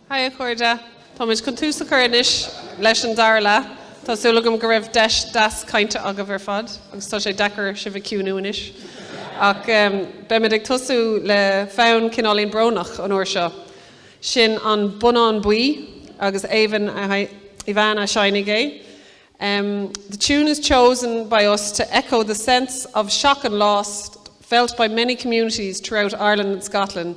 Hi a chairde. Táimid chun tús a chur anois leis an dara leath. Tá súil agam go raibh deis deas cainte agaibh ar fad agus tá sé deacair sibh a chiúnú anois. Ach beimid ag tosú le fonn cineáilín brónach an uair seo. Sin An Bonnán Buí agus Aoibheann Aoibheann a sheinnfidh é. The tune is chosen by us to echo the sense of shock and loss felt by many communities throughout Ireland and Scotland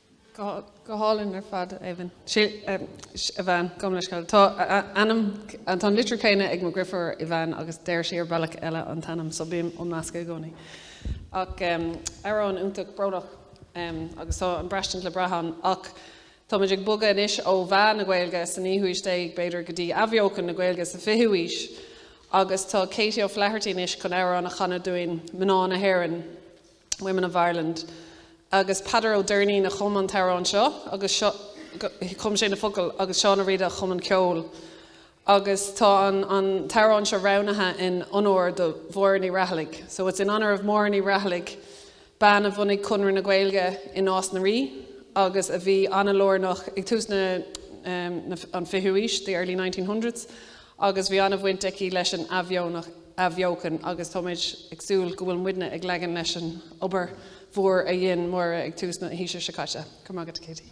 Go hálainn ar fad, Aoibheann. Aoibheann, gabh mo leithscéal. Tá a ainm, tá an litriú céanna ag mo dhrifiúr, Aoibheann, agus deir sí ar bealach eile an t-ainm, so bím á meascadh i gcónaí. Ach amhrán iontach brónach agus tá an braistint le brath ann. Ach táimid ag bogadh anois ó mheath na Gaeilge sa naoú haois déag b'fhéidir go dtí athbheochan na Gaeilge sa fichiú haois agus tá Katie O'Flaherty anois chun amhrán a chanadh dúinn, Mná na hÉireann. Women of Ireland. Agus Peadar Ó Doirnín a chum an t-amhrán seo agus so, chum sé na focail agus Seán Ó Riada a chum an ceol. Agus tá an, an t-amhrán seo roghnaithe in onóir do Mháire Ní Raghallaigh. So it's in honour of Máire Ní Raghallaigh, bean a bhunaigh Conradh na Gaeilge i Nás na Ríogh agus a bhí an-lárnach ag tús na, na, an fichiú aois, the early nineteen hundreds. agus bhí an-bhaint aici leis an athbheochan agus táimid ag súil go bhfuil muidne ag leagan leis an obair mhór a dhein Máire ag tús na haoise seo caite. Go raibh maith agat, Katie.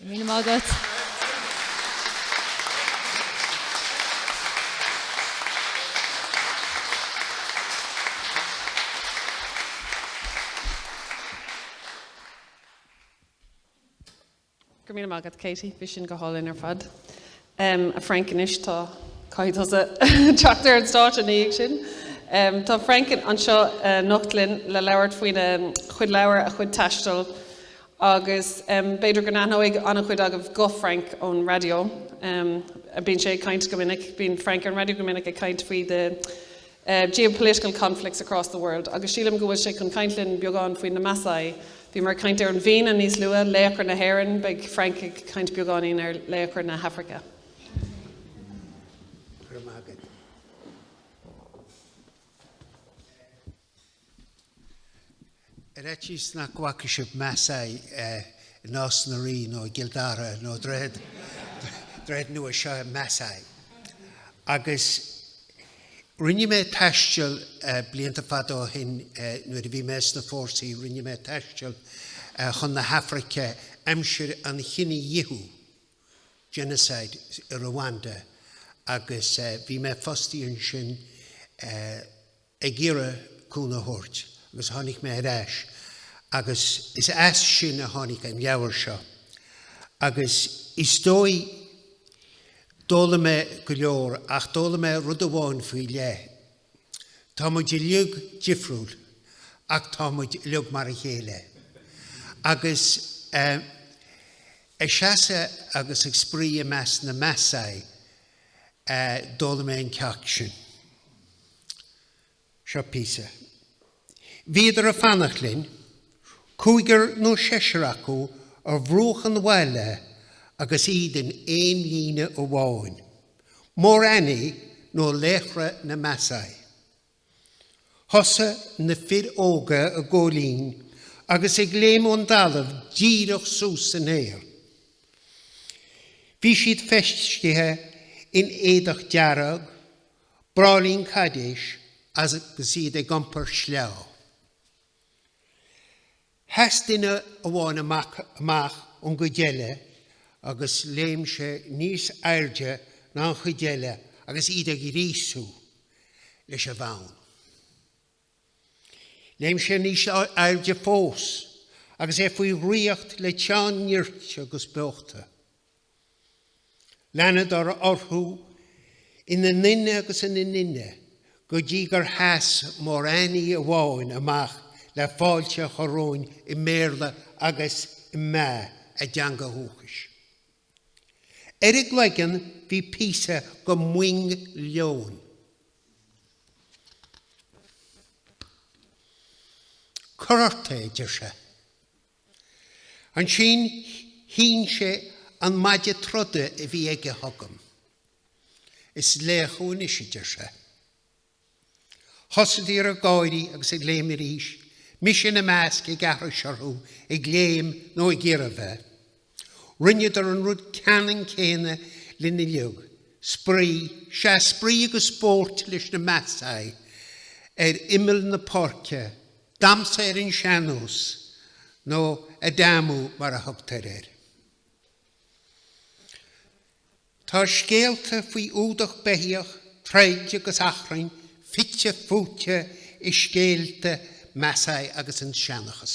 Míle maith agat. Go raibh míle maith agat Katie, bhí sin go hálainn ar fad. Um, a Frank, anois tá, caithfidh tusa teacht ar an stáitse ina dhiaidh sin. Um, tá Frank anseo anocht linn le labhairt faoina chuid leabhar, a chuid taistil, agus um, b'fhéidir go n-aithneoidh an-chuid agaibh guth Frank ón radio. Um, bíonn sé ag caint go minic, bíonn Frank ar an radio go minic ag caint faoi the geopolitical conflicts across the world agus sílim go bhfuil sé chun caint linn beagán faoi na Maasai. Bhíomar ag caint ar an bhFianna níos luath, laochra na hÉireann, beidh Frank ag caint beagáinín ar laochra na hAfraice. Ar fhaitíos nach bhfaca sibh Maasai i Nás na Ríogh nó i gCill Dara nó Droichead Nua seo Maasai. Agus rinne mé taisteal blianta fada ó shin nuair a bhí mé sna fórsaí rinne mé taisteal chun na hAfraice aimsir an chinedhíothú, genocide, i Rwanda agus bhí mé fostaithe ansin ag iarraidh cúnamh a thabhairt agus tháinig mé ar ais agus is as sin a tháinig an leabhar seo agus is dóigh, d'fhoghlaim mé go leor ach d'fhoghlaim mé rud amháin faoi leith, tá muid uilig difriúil ach tá muid uilig mar a chéile agus eh ag seasamh agus ag spraoi i measc na Maasai. D'fhoghlaim mé an ceacht sin. Seo píosa. Bhíodar ag fanacht linn, cúigear nó seisear acu ar bhruach an bhaile agus iad in aon líne amháin. Morani nó laochra na Maasai. Thosaigh na fir óga ag ceol in agus ag léim ón dtalamh díreach suas san aer. Bhí siad feistithe in éadach dearg, braillín cadáis agus iad ag iompar sleá. Sheas duine amháin amach ón gcuid eile agus léim sé níos airde ná an chuid eile agus iad á ghríosú leis an bhfonn. Léim sé níos airde fós agus é faoi dhraíocht le teann nirt agus beochta. Leanadar orthu ina nduine agus ina nduine go dtí gur sheas Morani amháin amach le fáilte a chur romhainn i mBéarla agus i Maa, a dteanga dhúchais. Ar a chloigeann bhí píosa de mhoing leoin. Cuir ort é, a deir sé. Ansin shín sé an maide troda a bhí aige chugam. Is laoch thú anois, a deir sé. Thosaíodar ag gáirí agus ag léim arís, mise ina measc ag aithris orthu, ag léim nó ag iarraidh bheith. Rinneadar an rud ceanann céanna linn uilig, spraoi, sea spraoi agus spórt leis na Maasai ar imeall na páirce, damsa ar an sean-nós, nó adumu mar a thugtar air. Tá scéalta faoi fhuadach beithíoch, troid agus achrann fite fuaite i scéalta Maasai agus sa seanchas.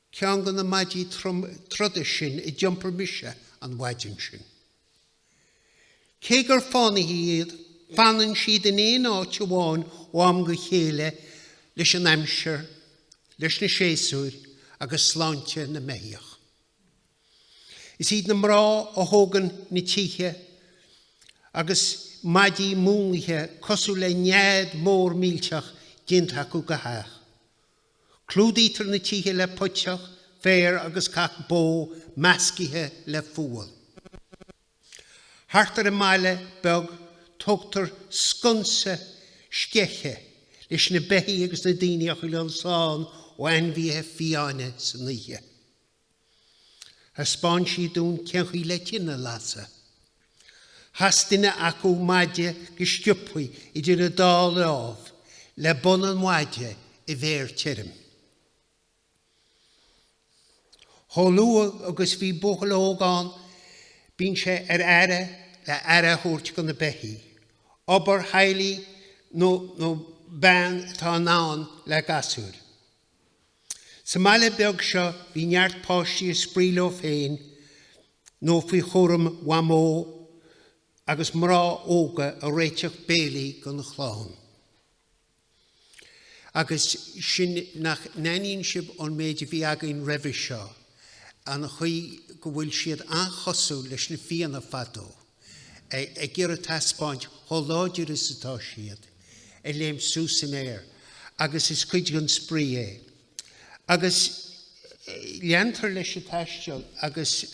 Ceann de na maidí troda sin é a d'iompair mise an mhaidin sin. Cé gur fánaithe iad, fanann siad in aon áit amháin ó am go chéile leis an aimsir, leis na séasúir agus sláinte na mbeithíoch. Is iad na mná a thógann na tithe agus maidí múnlaithe cosúil le nead mór millteach déanta acu go hach. Clúdaítear na tithe le puiteach féir agus cac bó meascaithe le fual. Thart ar an mbaile beag tógtar sconsa sceiche leis na beithí agus na daoine a choinneáil slán ó ainmhíthe fiáine san oíche. Thaispeán siad dúinn cén chaoi le tine a lasadh. Chas duine acu maide go sciopthaí idir a dá láimh le bun an mhaide i bhféar tirim. Chomh luath agus a bhíonn buachaill óg in ann bíonn sé ar fáil le aire a thabhairt do na beithígh. Obair theaghlaigh dhon bhean atá in ann le gasúir. Sa mbaile beag seo bhí neart páistí ag spraoi leo féin nó faoi chúram Mhamó agus mná óga ag réiteach béilí don chlann. Agus anois nach n-aithníonn sibh ón méid a bhí againn roimhe seo an chaoi go bhfuil siad an-chosúil leis na Fianna fadó. ag iarraidh taispeáint chomh láidir is atá siad, ag léimt suas san aer agus is cuid den spraoi é. Agus leantar leis an taisteal agus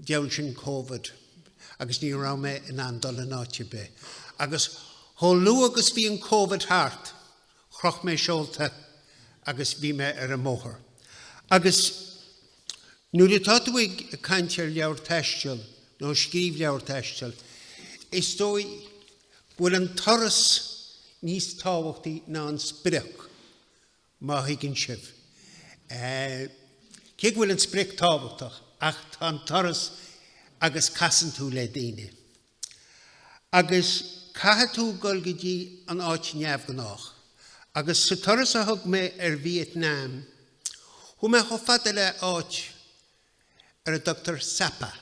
Bhuel ansin Covid agus ní raibh mé in ann dul in áit ar bith. Agus chomh luath agus bhí an Covid thart, chroch mé seolta agus bhí mé ar an mbóthar. Agus nuair atá tú ag caint ar leabhar taistil nó scríobh leabhar taistil, is dóigh go bhfuil an turas níos tábhachtaí ná an sprioc. Má thuigeann sibh cé go bhfuil an sprioc tábhachtach ach tá an turas agus casann tú le daoine agus caithfidh tú dul go dtí an áit neamhghnách agus sa turas a thug mé ar Vietnam chuaigh mé chomh fada le áit ar a dtugtar Sapa,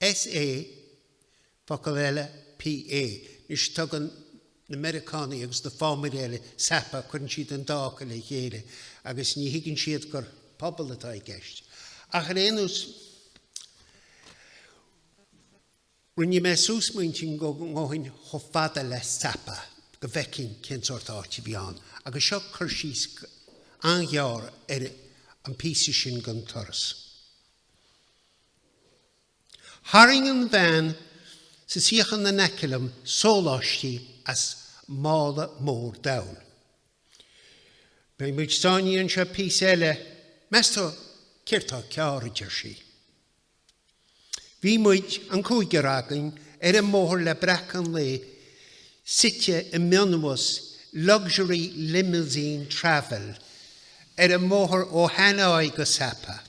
S-A-P-A. Focal eile, Pa. Anois tugann na Meiriceánaigh agus na fámairí eile Sapa, cuireann siad an dá fhocal le chéile agus ní thuigeann siad gur pobal atá i gceist. Ach ar aon nós, rinne mé suas m'intinn go ngabhfainn chomh fada le Sapa go bhfeicinn cén sórt áit a bhí ann agus seo cur síos an-ghearr ar an bpíosa sin den turas. Tharraing an bhean sa suíochán in aice liom sóláistí as mála mór donn. Beidh muid sáinnithe anseo píosa eile, meas tú céard tá cearr, a deir sí. Bhí muid, an cúigear againn, ar an mbóthar le breacadh an lae, suite i mionbhus Luxury Limousine Travel ar an mbóthar ó Hanoi go Sapa.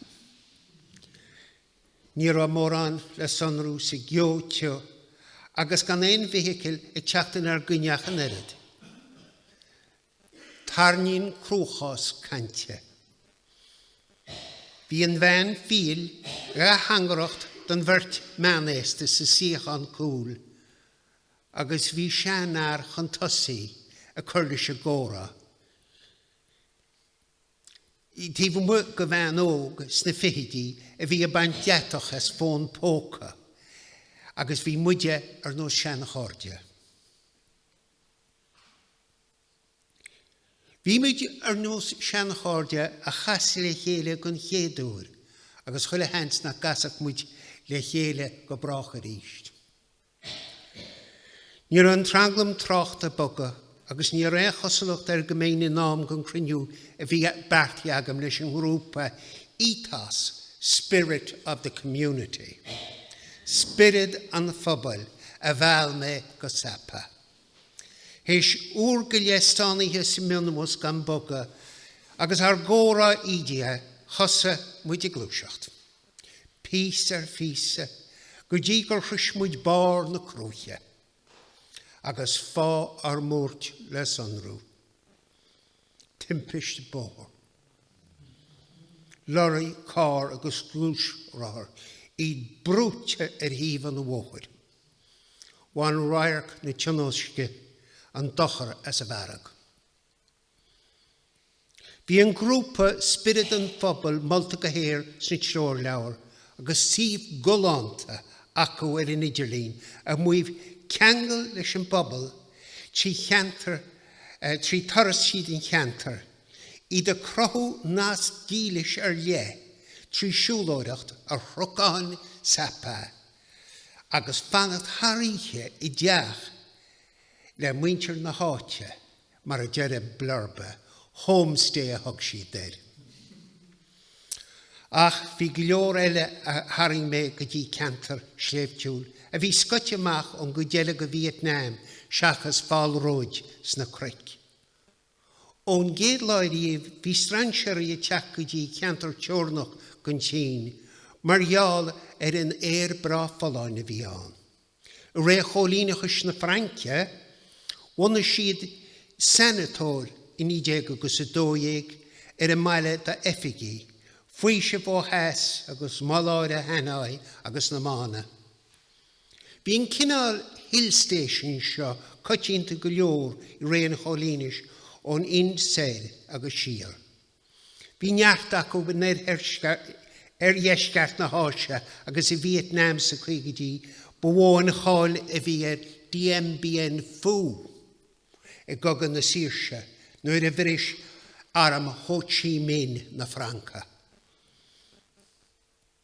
Ní raibh mórán le sonrú sa gceo tiubh agus gan aon fheithicil ag teacht inár gcoinne ach an oiread. Tarraingíonn cruachás caint. Bhí an bhean fhial ag teangaireacht don bheirt meánaosta sa suíochán cúil agus bhí seanfhear chun tosaigh ag cur leis an gcomhrá. Taobh amuigh de bhean óg sna fichidí a bhí ag baint deatach as fón póca agus bhí muide ar nós seanchairde. Bhí muid ar nós seanchairde a chas le chéile den chéad uair agus chuile sheans nach gcasfadh muid le chéile go brách arís. Ní raibh an tranglam tráchta ag bogadh, agus ní raibh aon chosúlacht air go mbeinn in am don chruinniú a bhí beartaithe agam leis an ngrúpa Ethos, Spirit of the Community. Spiorad an Phobail, a mheall mé go Sapa. Théis uair go leith stánaithe sa mhionbhus gan bogadh, agus ár gcomhrá ídithe, thosaigh muid ag gluaiseacht. píosa ar phíosa go dtí gur shrois muid barr na cruaiche agus fáth ár mbuairt le sonrú. Timpist bóthair. Leoraí, carr agus gluaisrothar, iad brúite ar thaobh an bhóthair. Bhain radharc na tionóisce an dochar as an bhfearg. Bhí an grúpa Spiorad an Phobail molta go haer sna treoirleabhair agus suíomh galánta acu ar an idirlíon ag maíomh ceangal leis an bpobal trí cheantar trí turas tríd an cheantar, iad ag cruthú nasc dílis ar leith trí siúlóireacht ar chnocáin Sapa agus fanacht thar oíche i dteach le muintir na háite. mar a deir an blurb, homestay a thug siad air. Ach bhí go leor eile a tharraing mé go dtí ceantar sléibhtiúil a bhí scoite amach ón gcuid eile de Vietnam seachas fálróid sna cnoic. Ón gcéad lá ariamh bhí strainséaraí ag teacht go dtí ceantar teorannach den tSín mar gheall ar an aer breá folláin a bhí ann. I ré choilíneachais na Fraince, bhunaigh siad sanatóir i 19 agus 12 ar an mbaile do oifigigh, faoiseamh ó theas agus maláire Hanoi agus na mbánta. Bhí an cineál hill station seo coitianta go leor i ré an choilíneachais ón Ind soir agus siar. Bhí neart acu in oirdheisceart na hÁise agus i Vietnam sna caogaidí, ba mhó an cháil a bhí ar Dien Bien Phu i gCogadh na Saoirse nuair a bhris arm Ho Chi Minh na Francaigh.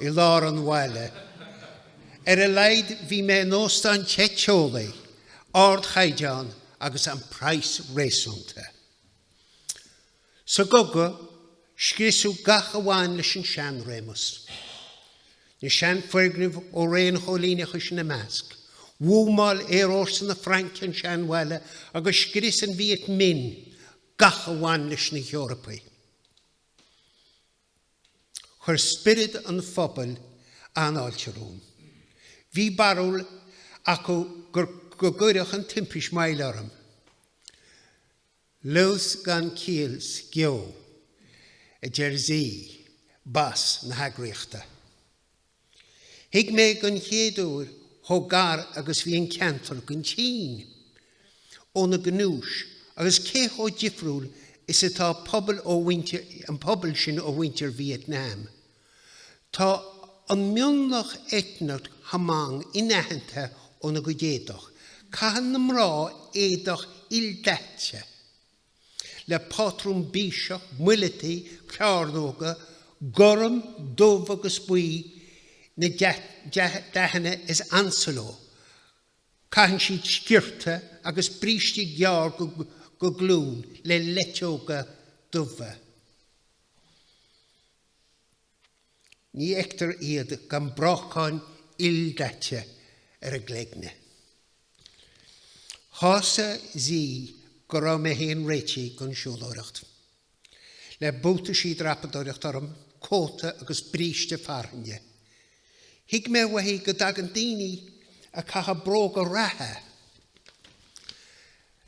i lár an bhaile. Ar a laghad bhí mé in óstán te teolaí, ardchaighdeán agus an praghas réasúnta. Sa gcogadh, scriosadh gach a bhain leis an seanréimeas. Na seanfhoirgnimh ó ré an choilíneachais ina measc. Bhuamáil aerfhórsa na Fraince an seanbhaile agus scrios an Viet Minh gach a bhain leis na hEorpaigh. Chuir spiorad an phobail an-fháilte romham. Bhí barúil acu gur go gcuirfeadh an timpist moill orm. Luas gan ciall sa gceo, a deir Z, bas na heagraíochta. Thuig mé don chéad uair chomh gar agus bhí an ceantar don tSín ó na gnúis agus cé chomh difriúil is atá an pobal, muintir an phobail sin ó mhuintir Vietnam. Tá an mionlach eitneach Hmong inaitheanta óna gcuid éadach, caitheann na mná éadach ildaite, le pátrún bíseach, muileataí, cearnóga, gorm, dubh agus buí na dathanna is ansa leo. Caitheann siad sciorta agus brístí gearr go glúin le luiteoga dubha. Ní fheictear iad gan breacán ildaite ar a gcloigne. Shásamh dhi go raibh mé fhéin réitithe don siúlóireacht. Le buataisí dreapadóireachta orm, cóta agus bríste fearthainne. Thuig mé uaithi go dtagann daoine ag caitheamh bróga reatha,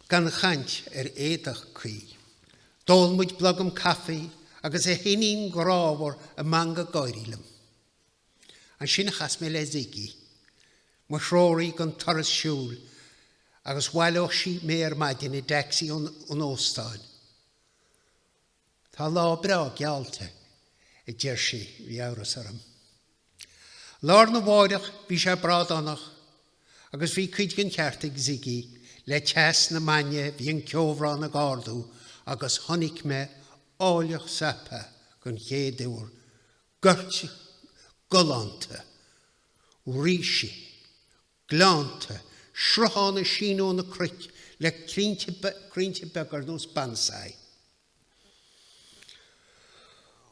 gan chaint ar éadach cuí. D'ól muid blogam caife agus a hiníon grámhar ag meangadh gáirí liom. Ansin chas mé le Ziggy, mo threoraí don turas siúil agus bhaileodh sí mé ar maidin i dtacsaí ón óstán. Tá lá breá geallta, a deir sí. Bhí amhras orm. Lá arna mháireach bhí sé brádánach agus bhí cuid den cheart ag Ziggy, le teas na maidne bhí an ceobhrán ag ardú agus chonaic mé áilleacht Sapa den chéad uair, goirt galánta ríse, gleannta, srutháin ag síneadh ó na cnoic le crainnte beaga ar nós bonsai.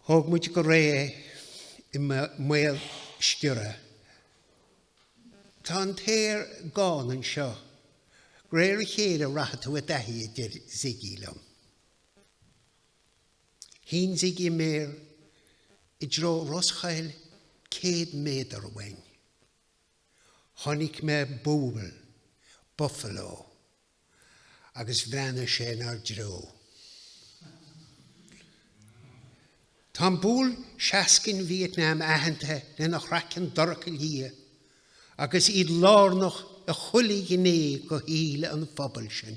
Thóg muid go réidh é i mbaol sciorradh. Tá an t-aer gán anseo. De réir a chéile a rachaidh tú i dtaithí, a deir Ziggy liom. Shín Ziggy a méar i dtreo roschoill céad méadar uainn. Chonaic mé buabhall, buffalo, agus bhreathnaigh sé in ár dtreo. Tá an buabhall seascainn i Vietnam aitheanta lena chraiceann dorcha liath agus iad lárnach i chuile ghné de shaol an phobail sin.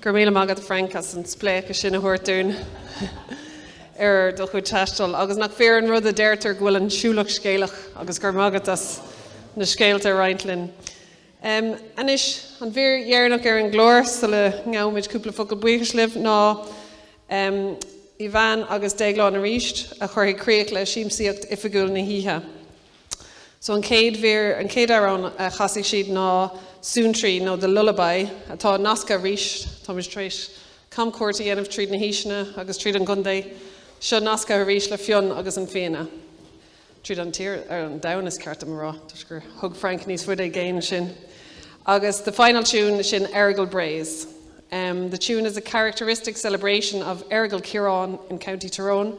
Go raibh míle maith agat Frank as an spléachadh sin a thabhairt dúinn ar do chuid taistil. Agus nach fíor an rud a deirtear go bhfuil an siúlach scéalach agus go raibh maith agat as na scéalta a roinnt linn. Um, anois, an mhír dheireanach ar an gclár sula ngabhaimid cúpla focal buíochais libh ná um, Ivan agus Déaglán arís a chuirfidh críoch le siamsaíocht oifigiúil na hoíche. So an chéad mhír, an chéad amhrán a chasfaidh siad ná Suantraí nó The Lullaby atá nasctha arís, táimid tar éis camchuairt a dhéanamh tríd na haoiseanna agus tríd an gcontae, seo nasctha arís le Fionn agus an Fianna. Tríd an tír, ar an domhan is ceart dom a rá, toisc gur thug Frank níos faide i gcéin sinn. Agus the final tune, sin Errigal Braes. The tune is a characteristic celebration of Errigal Keerogue in County Tyrone.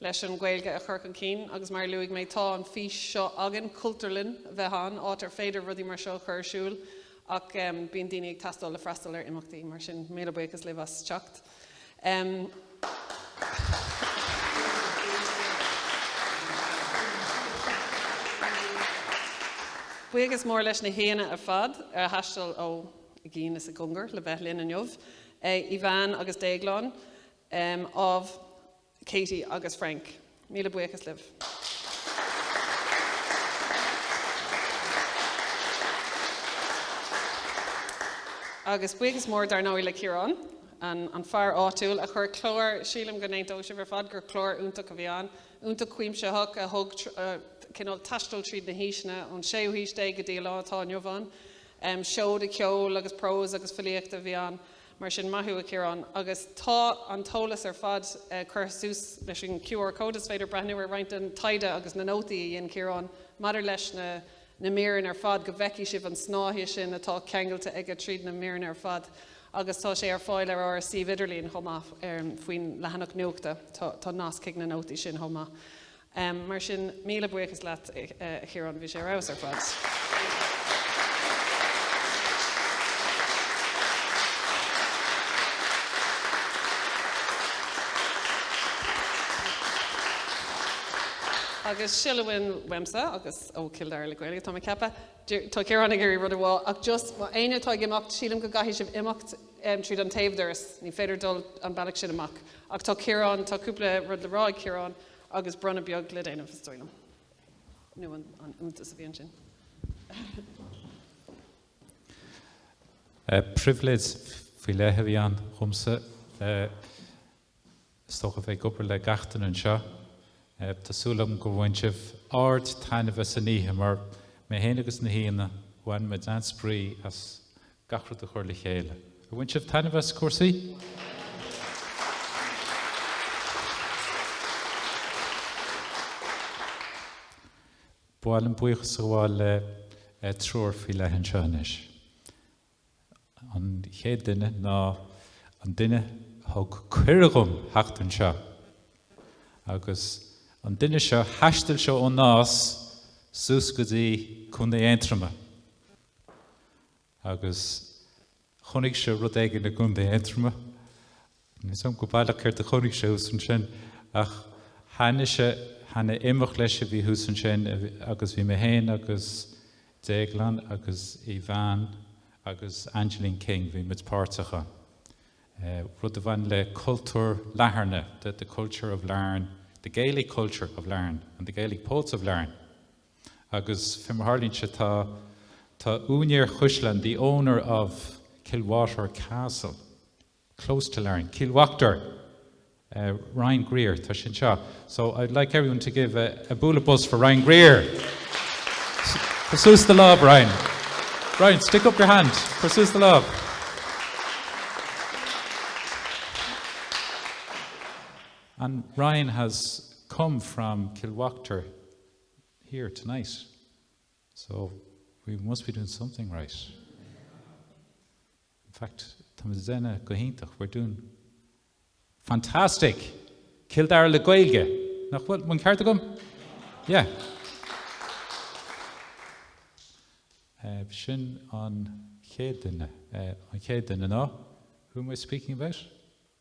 leis an Ghaeilge a chur chun cinn agus mar a luaigh mé tá an fhís seo againn, Cultúrlann a bheith ann, áit ar féidir rudaí mar seo a chur ar siúl ach bíonn daoine ag teastáil le freastal ar imeachtaí mar sin míle buíochas libh as teacht. Buíochas mór leis na haíonna ar fad ar thaisteal ó i gcéin is i gcongar le bheith linn inniu, Ivan agus Déaglán, ámh. Katie agus Frank. Míle buíochas libh. Agus buíochas mór dar ndóigh le Ciarán, an fear áitiúil a chuir clár, sílim go n-aontóidh sibh ar fad gur clár iontach a bhí ann, iontach cuimsitheach, a thug cineál taisteal tríd na haoiseanna ón séú haois déag go dtí an lá atá inniu ann. Seoda ceoil agus prós agus filíochta a bhí ann. Mar sin, maith thú, a Chiaráin. Agus tá an t-eolas ar fad curtha suas leis an QR code. Is féidir breathnú ar roinnt den taighde agus na nótaí a dhein Ciarán maidir leis na míreanna ar fad go bhfeicfidh sibh an snáithe sin atá ceangailte aige tríd na míreanna ar fad. Agus tá sé ar fáil ar ár suíomh idirlín chomh maith faoin leathanach nuachta. Tá nasc chuig na nótaí sin chomh maith. Em, mar sin, míle buíochas leatsa, a Chiaráin, bhí sé ar fheabhas ar fad. Agus sin a bhfuil uaimse, agus ó Cill Dara le Gaeilge, tá mé ag ceapadh, deir, tá Ciarán ag iarraidh rud a rá, ach just, má tá éinne atá ag imeacht, sílim go gcaithfidh sibh imeacht, em, tríd an taobhdoras, ní féidir dul an bealach sin amach. Ach tá Ciarán, tá cúpla rud le rá ag Ciarán. Agus bronnadh beag le déanamh, is dóigh liom. Nó an iontas a bhí ansin. Pribhléid faoi leith a bhí ann dhomsa. Is dócha bheith ag obair le gach duine anseo. Tá súil agam gur bhain sibh ardtaitneamh as an oíche mar mé féin, agus na haíonna, bhain muid an-spraoi as gach rud a chur le chéile. Ar bhain sibh taitneamh as cúrsaí? Ba mhaith liom buíochas a ghabháil le eh, triúr faoi leith anseo anois. An chéad duine ná an duine thug cuireadh dhom theacht anseo. Agus an duine seo thaistil sé ón Nás suas go dtí Contae Aontroma. Agus chonaic sé rud éigin i gContae Aontroma. Níl 's a'm go baileach céard a chonaic sé thuas ansin ach tháinig sé chuig imeacht leis a bhí thuas ansin agus bhí mé fhéin agus Déaglán agus Ivan agus Angeline King, bhí muid páirteach ann. Rud a bhain le cultúr Latharna, the culture of Larne, the Gaelic culture of Larne and the Gaelic poets of Larne. Agus fé mar tharlaíonn sé tá, tá úinéir chaisleán, the owner of Kilwaughter Castle, close to Larne, Cill Uachtair! Ryan Greer, tá sé anseo. So I'd like everyone to give a, a bualadh bos for Ryan Greer. Cuir suas do lámh, Ryan. Ryan, stick up your hand. Cuir suas do lámh. And Ryan has come from Kilwaughter. here tonight so we must be doing something right. In fact, táimid ag déanamh go hiontach, we're doing fantastic! Cill Dara le Gaeilge, nach bhfuil an ceart agam? Yeah. Uh, sin an chéad duine, uh, an chéad duine ná, who am I speaking about?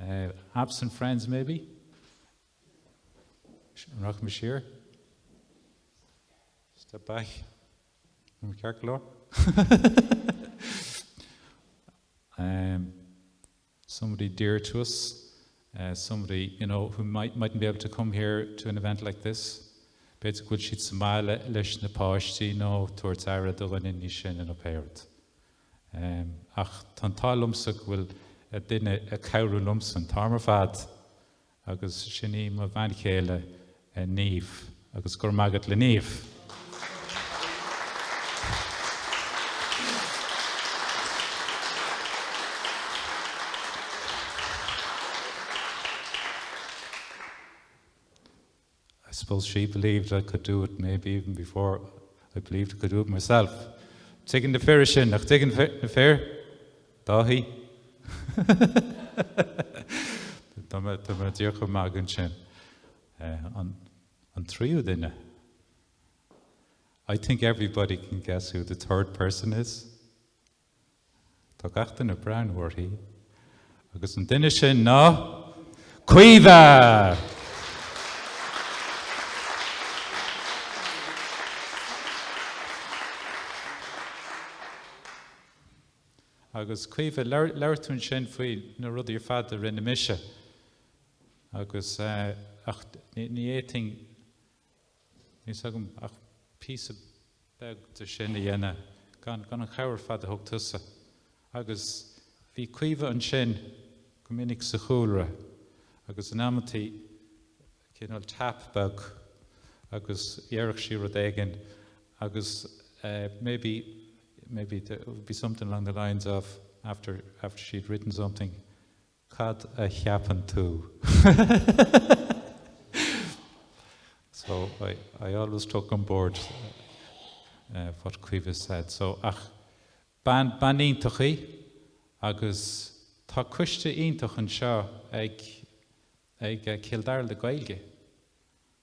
Eh, absent friends maybe? An raibh mé siar? Step back. An raibh mé ceart go leor? Em, somebody dear to us, eh, somebody, you know, who might, mightn't be able to come here to an event like this. B'fhéidir go bhfuil siad sa mbaile leis na páistí nó tabhairt aire do dhuine níos sine nó pé rud. Ach tá an t-ádh liomsa go bhfuil duine ag cabhrú liomsa an t-am ar fad agus sin í mo bhean chéile Niamh agus go raibh maith agat le Niamh. I suppose she believed I could do it maybe even before I believed I could do it myself. Tuigeann na fir é sin, nach dtuigeann na fir? Dáithí? Tá mé ag déanamh chomh maith ansin. An tríú duine? I think everybody can guess who the third person is. Tá gach duine ag breathnú uirthi, agus an duine sin ná Caoimhe! Agus Caoimhe, labhair tú ansin faoi na rudaí ar fad a rinne mise, agus, ach ní fhéadfainn Níl 's agam ach píosa beag de sin a dhéanamh gan an chabhair ar fad a thug tusa. Agus bhí Caoimhe ansin go minic sa chúlra agus in amantaí cineál tap beag agus dhéarfadh sí rud éigin agus maybe, maybe, it would be something along the lines of after, after she'd written something, Cad a cheapann tú? So, I always took on board what Caoimhe said. So, ach bean iontach í agus tá coiste iontach anseo ag Cill Dara le Gaeilge.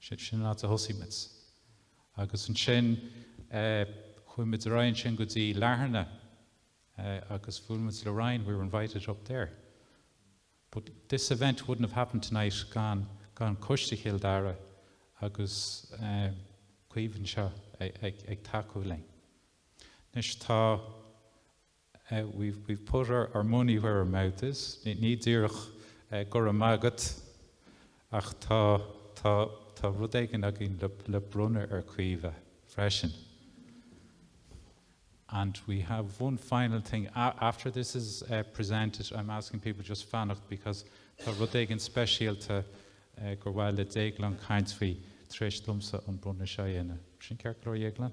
Sin sin an áit a thosaigh muid. Agus ansin eh chuaigh muid ar aghaidh ansin go dtí Latharna eh agus bhuail muid le Ryan, we were invited up there. But this event wouldn't have happened tonight gan gan Coiste Chill Dara agus eh Caoimhe anseo ag ag tacú linn. Anois tá We've we've put our our money where our mouth is, ní ní díreach go raibh maith agat ach tá tá tá rud éigin againn le le bronnadh ar Caoimhe freisin. And we have one final thing after this is presented I'm asking people just fanacht because tá rud éigin speisialta gur mhaith le Déaglán caint faoi tar éis domsa an bronnadh seo a dhéanamh. Sin ceart go leor Dhéaglán?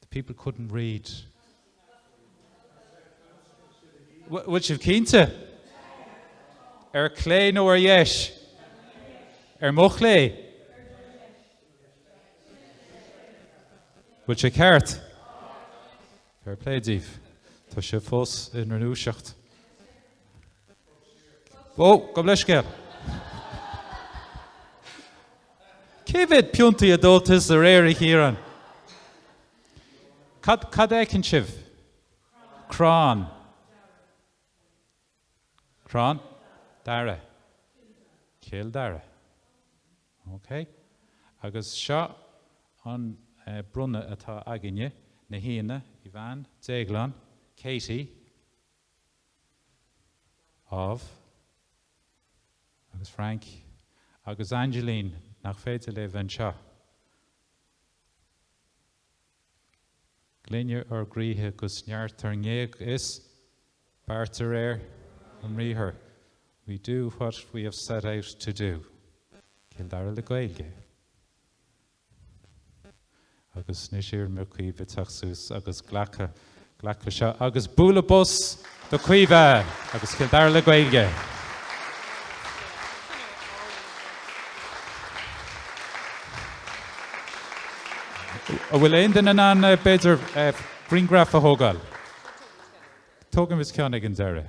The people couldn't read. Bhfuil sé cinnte? Ar chlé nó ar dheis? Ar mo chlé? Bhfuil sé ceart? Fair play díobh. Tá sé fós ina dhúiseacht. Ó, gabh mo leithscéal. Cé mhéad pionta a d'ól tusa aréir, a Chiaráin? Cad, cad a fheiceann sibh? Crann. Crann? Daire. Cill Dara. OK. Agus seo an eh, bronnadh atá againn ó na haíonna, Ivan, Déaglán, Katie, Ámh. Agus Frank. Agus Aingeilín. Nach féidir léi bheith anseo. Glaine ár gcroíthe 'gus neart ár ngéag is. beart de réir ár mbriathar We do what we have set out to do. Cill Dara le Gaeilge? Agus anois iarraimir ar Chaoimhe teacht suas agus glacadh, glacadh le seo agus bualadh bos do Chaoimhe agus Cill Dara le Gaeilge. An bhfuil aon duine in ann, b'fhéidir, grianghraf a thógáil? Tógaimis ceann ag an deireadh.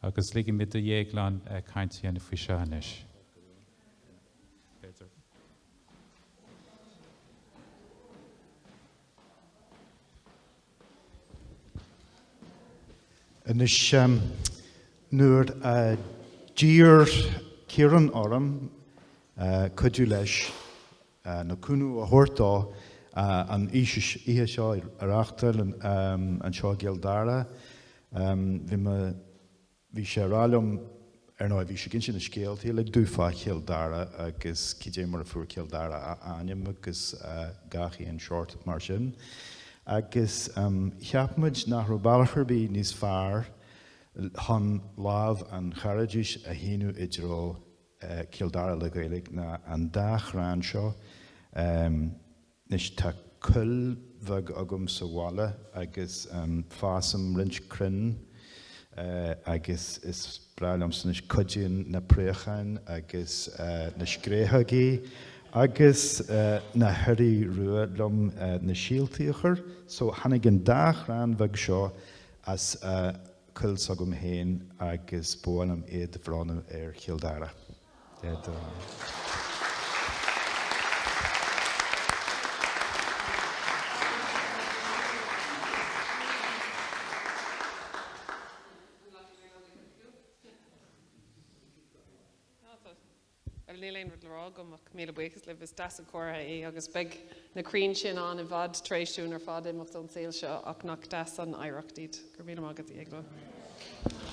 Agus ligimid do Dhéaglán caint a dhéanamh faoi seo anois. B'fhéidir. Anois nuair a d'iarr Ciarán orm cuidiú leis nó cúnamh a thabhairt dó an oíche seo ar a theacht anseo i gCill Dara. Bhí sé a rá liom, ar ndóigh, bhí siad ag insint na scéalta uilig dúinn fá Chill Dara agus cad é mar a fuair Cill Dara a ainm agus gach aon seort mar sin. Agus cheap muid nach raibh bealach ar bith níos fearr chun lámh an chairdis a shíneadh i dtreo Cill Dara le Gaeilge ná an dá chrann seo. Anois tá coill bheag agam sa bhaile agus fásaim roinnt crainn agus is breá liomsa anois cuidíonn na préacháin agus na scréachógaí agus na hioraí rua liom na síoltaí a chur so tháinig an dá chrann bheag seo as Coill s'agam féin agus ba mhaith liom iad a bhronnadh ar Chill Dara. Bhuel, níl aon rud le rá agam ach míle buíochas libh. Is deas an comhartha é agus beidh na crainn sin ann i bhfad tar éis dúinn ar fad imeacht ón tsaol seo ach nach deas an oidhreacht iad. Go raibh míle maith agat, a Dhéagláin.